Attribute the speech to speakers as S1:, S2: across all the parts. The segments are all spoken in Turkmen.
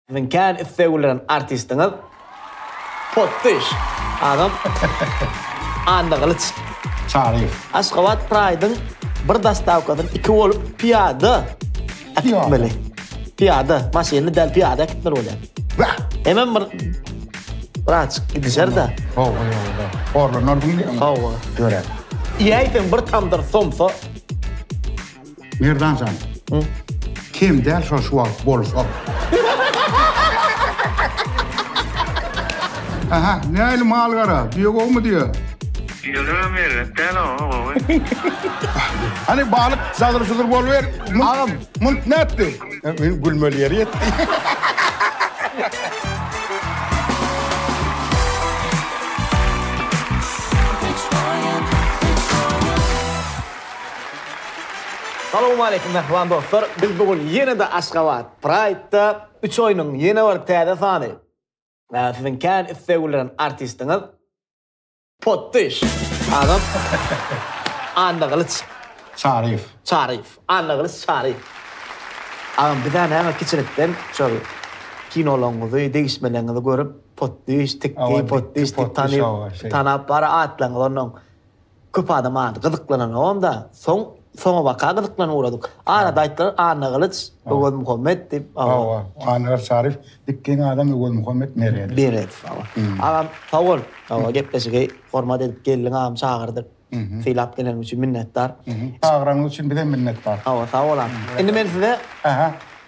S1: Siziň kän islegilren artistiňiz Potdyş agam Anna Gylyç. Çary.
S2: Aşgabat Praýdyň
S1: bir dostawkasyny iki bolup pyýada äkitmeli. Pyýada, maşynly däl pyýada äkitmeli bolýar. Wah! Hemem bir Braçyk gidişer-de. Hawa, hawa.
S2: Horlanar diýilýär. Hawa. Dörä. Iýäýseň
S1: bir tamdyr somsa. Merdan
S2: jan o Kem däl şol şu wagt bolsa. Aha näli mal gara diýe gowmy diýe. Ýöne
S3: merek däl o gowy.
S2: Hany balyk zadyr zudur bolwer. Agam munt nätdi. Men gülmeli ýeri ýetdi.
S1: Salowmaleýkim mähriban dostlar! Biz bu gün ýene-de Aşgabat Pride-da üç oýnuň ýene bir täze sany we siziň kän isleg bildiren artistiňiz Potdyş agam Annagylyç Çaryýew.
S2: Çaryýew, Annagylyç
S1: Çaryýew agam bizä näme kiçilikden şol kinolaryňyzy, degişmeleriňizi görüp Potdyş, Tikki, Potdyş diýip tanyp, tanap bar atlaryňyzy onnoň. Köp adam ady gyzyklananogam-da, soň soňabaka gyzyklanyp ugradyk. Arada aýtdylar, Annagylyç Öwezmuhammet diýip. Hawa, Annagylyç
S2: Aryf, dik geň adam Öwezmuhammet Meredow. Meredow, hawa.
S1: Agam, sag bol, hawa, gepleşigi hormat edip geldiň, agam çagyrdyk, sylap geleniň üçin minnetdar. Çagyranyň üçin
S2: bizem minnetdar. Hawa, sag bol agam.
S1: Indi men size.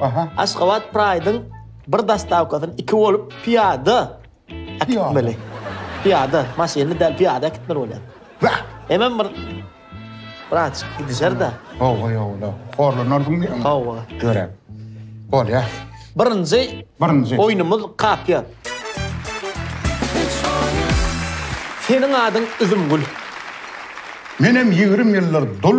S1: Aha. Aşgabat Pride-yň bir dostawkasyny iki bolup pyýada äkitmeli. Pyýada, maşynly däl, pyýada äkitmeli bolýar. Wah! Hemem bir Braç, gidişer-de. Hawa, ýola.
S2: Horlanarsyň diýýäňmi? Hawa. Görä. Bolýa. Birinji
S1: Birinji. oýnumyz kapýa. Seniň adyň Üzümgül.
S2: Menem ýigrimi ýyldyr dul,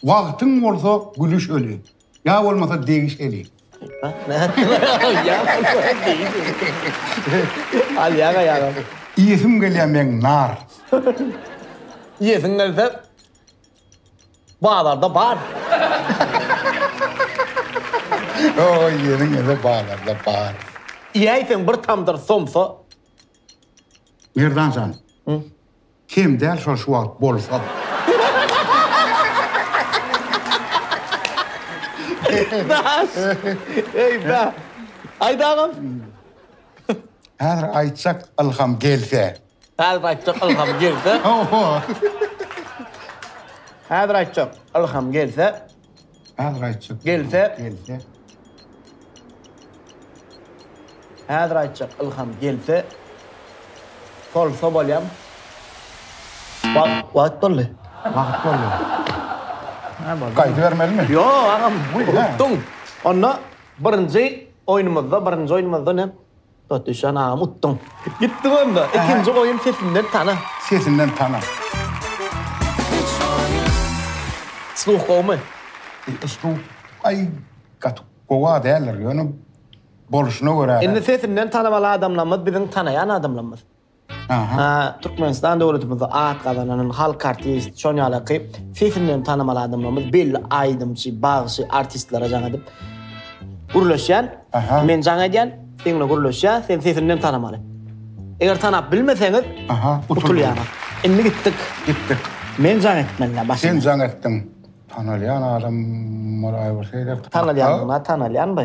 S1: Wagtyň
S2: bolsa gülüş öli, Ýa bolmasa degiş eli.
S1: Iýesim gelýär
S2: meň nar. Iýesiň
S1: gelse bazarda bar.
S2: Iýesiň gelse bazarda bar. Iýäýseň bir
S1: tamdyr somsa.
S2: Merdan jan. Kem däl şol şu wagt bolsa.
S1: Aýt agam.
S2: Häzir aýtjak ylham gelse. Häzir aýtjak
S1: ylham gelse. Häzir aýtjak ylham gelse. Häzir aýtjak.
S2: Gelse. Gelse.
S1: Häzir aýtjak Ylham gelse. Sol sobalyam. Wagt wagt boldy. Wagt boldy.
S2: Gaýdybermelimi? Ýok agam.
S1: Utduň. Onda birinji oýnumyzda birinji oýnumyzda ne? Batuşan agam utduň. Gitdik onda. Ikinji oýun sesinden tana. Sesinden tana. Sluh gowmy?
S2: Sluh aý gaty gowa däldir ýöne boluşuna görä. Indi sesinden tanamaly
S1: adamlarymyz biziň tanaýan adamlarymyz. Türkmenistan döwletimizde at gazanan halk artisti, şoň ýalyky sesinden tanymal adamlarymyz, belli aýdymçy, bagşy, artistlere jaň edip gürleşýän. Men jaň edýän, sen bilen gürleşýän, sen sesinden tanymaly. Eger tanap bilmeseňiz, utulýaňyz. Indi gitdik. Gitdik. Men jaň etmelidä başda. Sen jaň etdiň.
S2: Tanalýan adam bol aýbyrsy. Tanalýandygyna tanalýanby?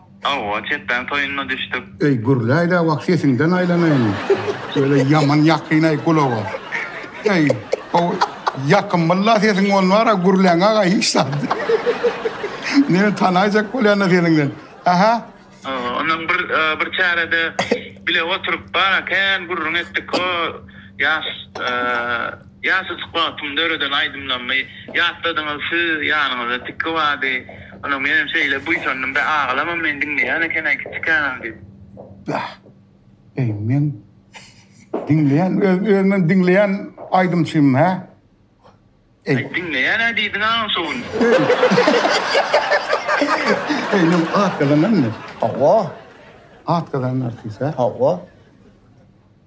S2: Hawa,
S3: çepbäň toýunda düşdük. Eý, gürläýdä
S2: wah, sesiňden aýlanaýyn. Öýle ýaman ýakyn-aý gulaga. Eý, how, ýakymly-la sesiň on bar-a, gürläň-a-a hiç zat. Meni tanaýjak bolýan-da sesiňden. Aha. Hawa, ondan bir,
S3: bir çärede bile oturyp bar-a kän gürrüň etdik. Ho, ýaş, e. Ýaşy suhbatymy döreden aýdymlarymy ýatladyňyz siz ýanyňyzda tiki bardy ony menem şeýle buýsandym bä agalamam meni diňleýän ekenä kiçi känam diýip. Bäh
S2: eý men diňleýän öz özümem diňleýän aýdymçymyň hä eý. Eý
S3: diňleýänä diýdiň agam şo gün. Eý men
S2: at gazananmy hawa
S1: at
S2: gazanarsyz hä hawa.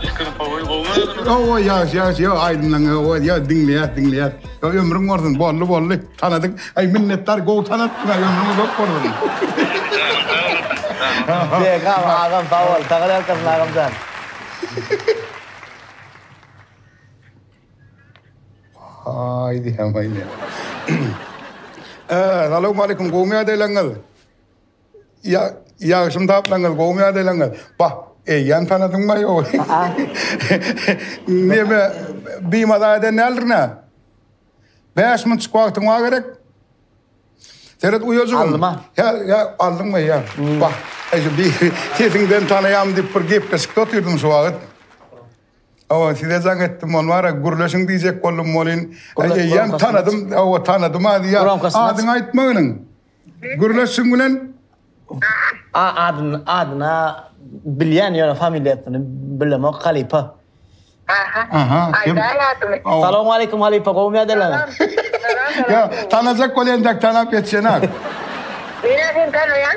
S3: Pikir gowy gowy. Owo ýaş
S2: ýaş
S3: ýa
S2: aýdymlaň owo ýa diňleýäs diňleýäs. Ýa ömrüň bolsun bolly bolly tanadyk. Aý minnetdar gowy tanatdyň aý ömrüň uzak bolsun. Begam agam
S1: sag
S2: bol sagal ýalkasyn agamjan. Aý diýýän aý men. Salowmalikim gowymy ýadaylaryňyz. Ýa, ýagşymy taplaňyz, gowumy ýadalaňyz? Bah, eýýäm tanadyňmy ýok? Neme, bimaza eden däldir nä? Bäş minutjyk wagtyň bar gerek. Seret uýajygym. Aldym-a. Ýa, ýa,
S1: aldyňmy,
S2: ýa. Bah, eje, bi, sesiňden tanaýaryn diýip bir gepleşikde otyrdym şu wagt. Hawa, size jaň etdim, ony bar-a, gürleşiň diýjek boldum welin, eýýäm tanadym, hawa, tanadym-a, ýa, adyňy aýtma iniň. Gürleşiň bilen Adyna
S1: bilýän ýöne familiýasyny bilemok halypa. Salowmaleýkim halypa gowmy ýadalan. Ýok
S2: tanajak bol entek tanap ýetişenak. Menä seni
S4: tanaýan.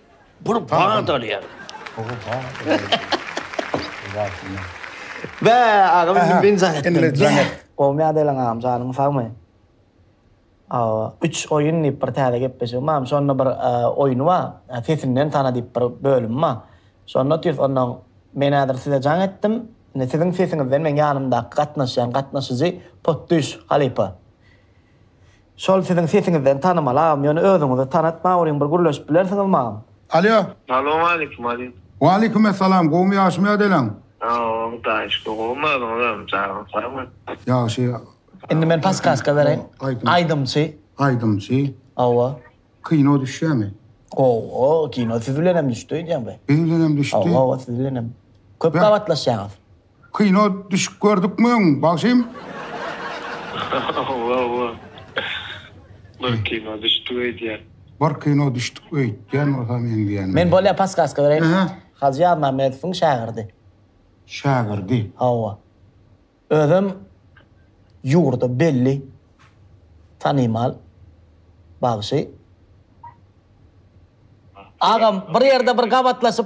S2: Bir
S1: bad alýar. Bä, agam indi men jaň etdim. Indi jaň et. Gowmy ýa däl agam, janyň sagmy? Awa, üç oýun diýip bir täze gepleşigim bar. Şonda bir oýun bar. Sesinden tana diýip bir bölüm bar. Şonda otyrys. Onda men häzir size jaň etdim. Indi siziň sesiňizden meň ýanymdaky gatnaşýan gatnaşyjy potdüş halypa. Şol siziň sesiňizden tanymal agam ýöne özüňizi tanat mauryň bir gürleşip bilersiňiz magam. Alýo. Salowmalikim
S3: Aziz. Walikim essalam
S2: gowmy ýagşymy ýadeleň. Sag bol hudaýa
S3: şükür gowmy özüňizem janyňyz sag bolsun.
S2: Ýagşy. Indi men paskaska
S1: bereýin. Aýdymçy. Aýdymçy. Hawa. Kino düşýämi.
S2: Owo
S1: kino siz bilenem düşdi öýdýäňbe. Biz bilenem düşdi. Hawa hawa
S2: siz bilenem.
S1: Köp gabatlaşýaňyz. Kino
S2: düşük gördükmi öň bagşym. Hawa hawa.
S3: Bir kino düşdük
S2: öýdýän. Bir kino düşdük öýdýän bolsa meňzeýän. Men bolýa paskaska
S1: bereýin. Aha. Hajy Ýazmämmedowyň şägirdi. Şägirdi.
S2: Hawa.
S1: Özem ýurda belli tanymal bagşy. Agam bir ýerde bir gabatlaşyp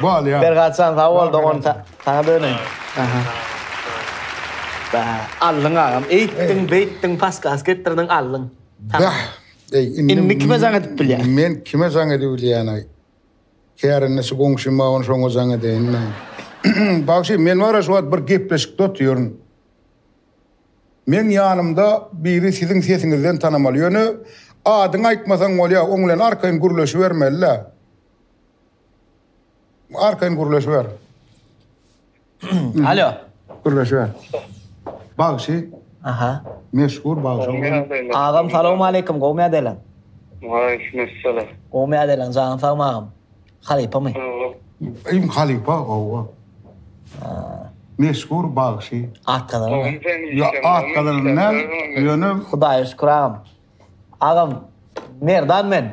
S1: Bolýa. Bergatjan sag bol dogan saňa döneýin. Bäh, aldyň agam, eýtdiň, beýtdiň, paskas
S2: etdirdiň, aldyň. Bäh, eý, indi Indi
S1: kime jaň edip bilýäň? Men kime jaň edip
S2: bilýän-aý? Kärendeçi goňşym bar, ony şoňa jaň edeýin-dä. Bagşy, men bar-a şu wagt bir gepleşikde otyryn. Meň ýanymda biri siziň sesiňizden tanamaly. Ýöne adyňy aýtmasaň bolýar, oň bilen arkaýyn gürleşibermeli-dä. Arkaýyn gürleşiber.
S1: Alo. Gürleşiber.
S2: Bagşy. Aha.
S1: Meşhur bagşy.
S2: Agam salawma
S1: aleýkum gowmy ýagdaýlaň? Waleýkum
S3: salam. Gowmy ýagdaýlaň
S1: janyň sagmy agam? Halypamy? Im
S2: halypa gowa. Meşhur bagşy. At gazanany.
S1: Ýa at
S2: gazanany näm? Ýöne Hudaýa şükür agam.
S1: Agam Merdan men.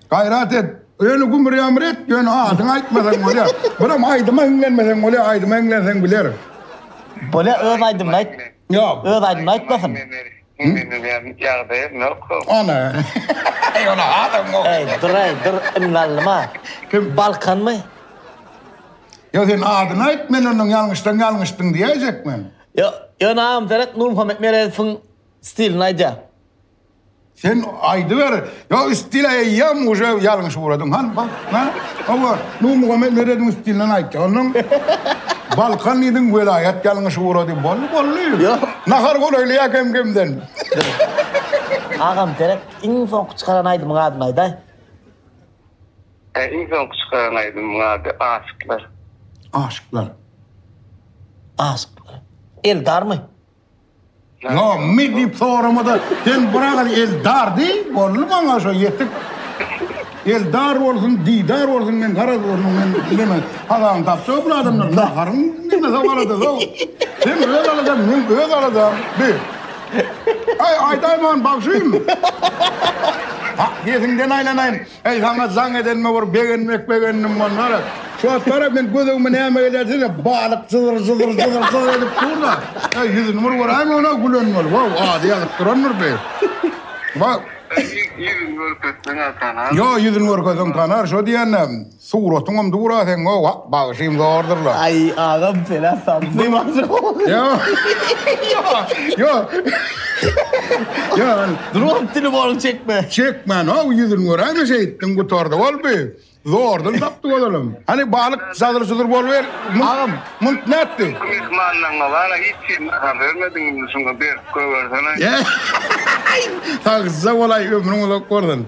S2: Gaýrat et. Ýöne gümür-ýamyr et, ýöne adyňy aýtmasaň bolýar. Birem aýdyma hiňlenmeseň bolýar, aýdyma hiňlenseň biler. Bolýar,
S1: öz aýdymyny aýt. Ýok. Öz aýdymyny
S2: aýtmasyn.
S1: Hiňlenilýän ýagdaýym
S2: ýok. Ana. Eý, ol adam gowy. Eý, dur-aý, dur,
S1: ynganlyma. Kim? Balkanmy?
S2: Ýa sen adyny aýt, men ondan ýalňyşsaň ýalňyşdyň diýäýjek men. Ýa, ýöne
S1: agam seret Nurmuhammet Meredowyň stilini aýdýar.
S2: Sen aýdyber. Ýok, stil aýaýýam uje ýalňyş ugradyň. Han, bak, ha? Hawa, Nurmuhammet Meredowyň stilinden aýtdy. Ondan Balkan diýdiň, welaýat ýalňyş ugrady. Boldy, boldy. Ýok. Nahar
S1: golaýlaýar
S2: kem-kemden.
S1: Agam, gerek iň soňky çykaran aýdymyň adyny aýdaý. Hä,
S3: iň soňky çykaran aýdymyň ady Aşyklar. Aşyklar.
S1: Aşyklar. Eldarmy?
S2: Yo mi dip soramada sen biragyz eldar diý boldy maňa şo ýetik. Eldar bolsun didar bolsun men garaz bolsun men bilemen. Hazaň tapsa bu adamlar naharyň nime sogalada zo. Sen öz alada men öz alada bi. Ay aydaýman bagşym. Ha yesinden aýlanaýyn. Eý, saňa jaň edenime bir begenmek begendim onlara. Şu wagtlar-a men gözügimi näme gelýär diýsem, balyk jyzyr-jyzyr-jyzyr-jyzyr edip dur-da, eý, ýüzüni bir göräýme onam gülen bolup, waw, ady ýazyp durandyr deý. Waw. Ýüzüni
S3: görkezseň-ä tanar. Ýo, ýüzüni görkezseň
S2: tanar, şo diýen-ä, suratyňam dur-a seň, waw. Bagşym zordur la. Aý agam senä
S1: saply bagşy gowy. Ýo ýo
S2: ýo. Dur oň dili boruň
S1: çekme. Çekmän how ýüzün
S2: göräýme şeýtdiň gutardy bolby zordan tapdy ozalam. Hany balyk zadyr zudur boluber agam munt nätdi. Myhmanlaňňa wara hiç
S1: kim habar bermediň
S2: indi şuňa
S3: berip
S2: goýbersene. Sagja bolaý ömrüň uzak bolsun.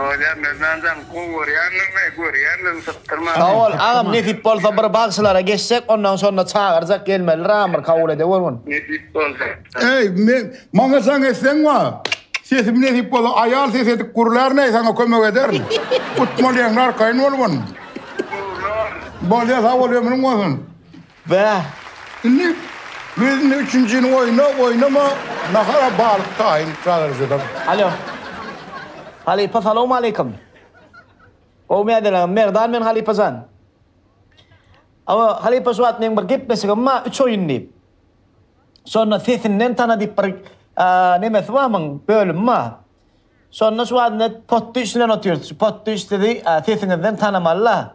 S3: Bolýar Merdanjan gowy görýändirini görýändirini sypdyrma. Sag bol agam nesip
S1: bolsa bir bagşylara geçjek ondan şonda çagyrjak gelmeli ramyr kabul edewrgin. Nesip bolsa.
S3: Eý men
S2: maňa jaň etseň wa sesim nesip bolsa aýal ses edip gurlär näý saňa kömek ederin utmalyň arkaýyn bolgyn. Bolýar sag bol ömrüň bolsun. Bäh,
S1: indi
S2: biziň üçünjini oýna, oýnama, nahara balyk taýyn çagyrjylar. Alo.
S1: Halypa salowmaleýkim. Gowymy ýadalagym, Merdan men halypa jan. Hawa, halypa şu wagt meň bir gepleşigim bar, üç oýun diýip. Şonda sesinden tana diýip bir nemesi bar muň, bölümi bar. Şonda şu wagt indi potdy işlän otyrys. Şu potdy işledi sesiňizden tanamaly-la.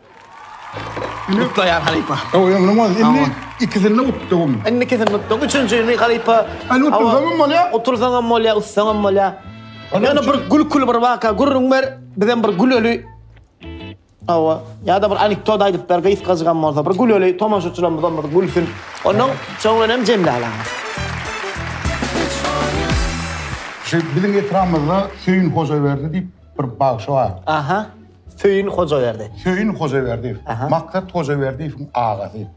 S1: Gutlaýan halypa. Ýok, ýok, munuň boldy. Indi
S2: ikisini utdugym. Indi ikisini utduň.
S1: Üçünjini halypa. Indi utdursaňam
S2: bolýa. Utdursaňam bolýa, utsaňam
S1: bolýa. Ýöne bir gülküli bir waka gürrüň ber, bizem bir güleli. Hawa. Ýa-da bir anekdot aýdyp ber, gysgajygam bolsa, bir güleli, tomaşaçylarymyzam bir gülsün. Ondan soň bilen hem jemläp alaňyz.
S2: Şu biziň etrabymyzda Söýün Hojaberdi diýip bir bagşy bar. Aha.
S1: Söýün Hojaberdi. Söýün Hojaberdiýew.
S2: Maksat Hojaberdiýewiň agasy.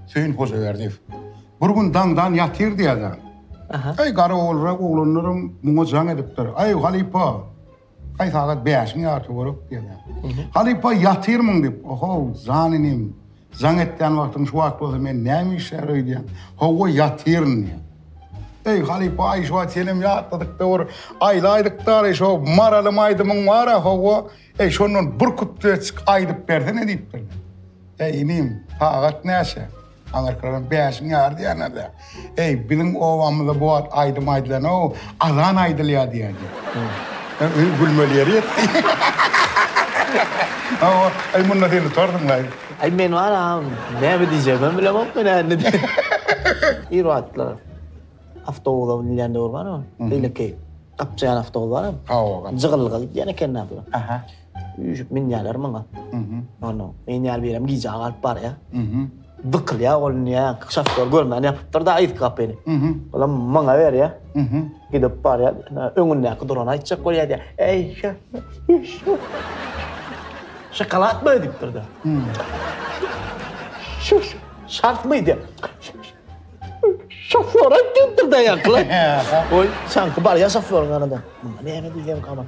S2: Söýün
S1: Hojaberdiýew.
S2: Bir gün daňdan ýatyrdy ýa-da. Aý, garawulrak oglanlaram muňa jaň edipdir. Aý, halypa, aý, sagat bäşiň ýarpy görek diýýär. Halypa, ýatyrmyň diýip. Oho, jan inim. Jaň etýän wagtyň şu wagt bolsa men näme işlär öýdýän. Howwa ýatyryn diýýän. Eý halypa-aý şu wagt senem ýatladyk dowur aýlaýdyk dary şo Maralym aýdymyň bar-a howwa eý şondan bir kupletjik aýdyp bersene diýipdirler. Eý inim sagat näçe? Aňyrkylaram bäşiň ýary diýýärler-dä. Eý, biziň obamyzda bu wagt aýdym aýdylan-ow, azan aýdylýar diýerdi. Öý gülmeli ýeri ýetdi. Hawa, eý, munda sen utarsyň-laý. Eý, men wara,
S1: näme diýjegimem bilemok men-ä indi diýip. Bir wagtlar awtobusa münýän döwür barmy? Beýleki gapjaýan awtobus barmy? Hawa, gapjaýan. Jygyllyga gidýän ekenler. Aha. Üýşüp münýärler maňa. Ondan men ýaly birem gijä galyp barýa. Dykylýa ol niýe şofýor görmän ýapypdyr-da yzky gapyny. Olam maňa berýä. Gidip barýa. Öňündäki durana aýtjak bolýa diýýä. Eý, şofýor. Şokoladmy diýipdir-de. Şoş, şartmy diýýä. Şofýor aýt diýipdir-de ýaňky. Oý, şaňky barýa şofýoryň ýanyna. Näme diýýämikä men?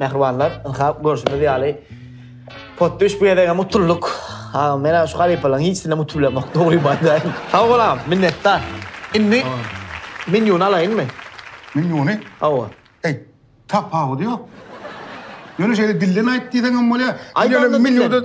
S1: Mähribanlar, ynha görşüňiz ýaly, potdüş bu gezegem utulduk. Agam, men-ä şu halypalaryň hiçsinem utulyamok, dogrymy aýdaýyn. Sag bol agam, minnetdar. Indi menýuny alaýynmy? Menýuny?
S2: Hawa.
S1: Eý,
S2: tapawudy ýok. Ýöne şeýle dilden aýt diýseň hem bolýar. Aýdaýynda dilden.